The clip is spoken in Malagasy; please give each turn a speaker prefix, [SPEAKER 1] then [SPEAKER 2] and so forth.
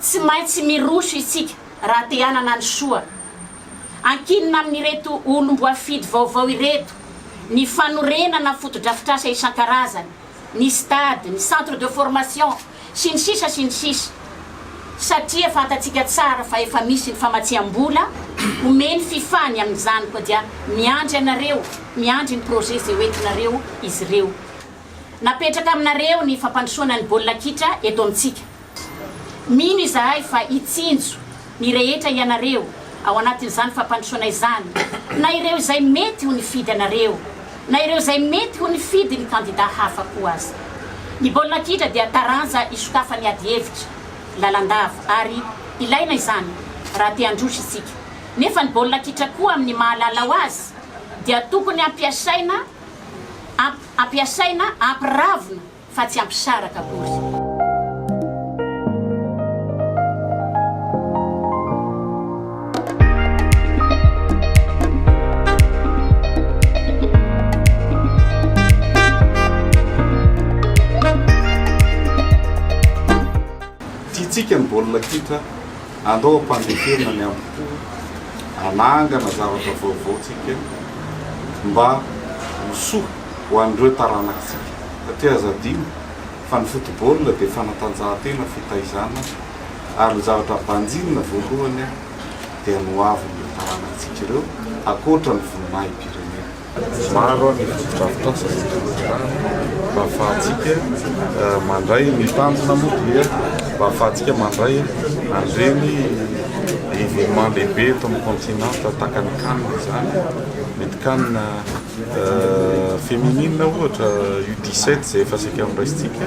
[SPEAKER 1] Tsy maintsy miroso isika raha te hanana ny soa. Ankinina amin'ireto olom-boafidy vaovao ireto ny fanorenana fotodrafitrasa isan-karazany, ny stade, ny centre de formation, sy ny sisa sy ny sisa, satria fantatsika tsara fa efa misy ny famatsiam-bola omen'i fifa ny amin'izany koa dia miandry anareo, miandry ny projet izay hoentinareo izy ireo. Napetraka aminareo ny fampandrosoana ny baolina kitra eto amintsika. Mino izahay fa hitsinjo ny rehetra ianareo ao anatin'izany fampandrosoana izany, na ireo izay mety ho nifidy anareo, na ireo izay mety ho nifidy ny kandidà hafa koa aza. Ny baolina kitra dia taranja isokafan'ny adihevitra lalandava, ary ilaina izany raha te handroso isika. Nefa ny baolina kitra koa amin'ny maha lalao azy dia tokony ampiasaina ampiasaina ampiravina.
[SPEAKER 2] fa tsy hampisaraka akory. Tiantsika ny baolina kitra, andao hampandeferina ny ambo-po, hanangana zavatra vaovao tsika mba ho soa. ho an'ireo taranatsika. Satria aza adino fa ny football dia fanatanjahantena fitaizana ary ny zavatra banjinina voalohany dia ny ho avin'ireo taranatsika ireo ankoatra ny voninahi-pirenena. Maro ny fotodrafitrasa izay tolotrarahina mba ahafahantsika mandray, ny tanjona moa dia mba ahafahantsika mandray an'ireny événement lehibe eto amin'ny continent tahaka ny can izany, mety can. Féminine ohatra, U 17 izay efa saika noraisintsika.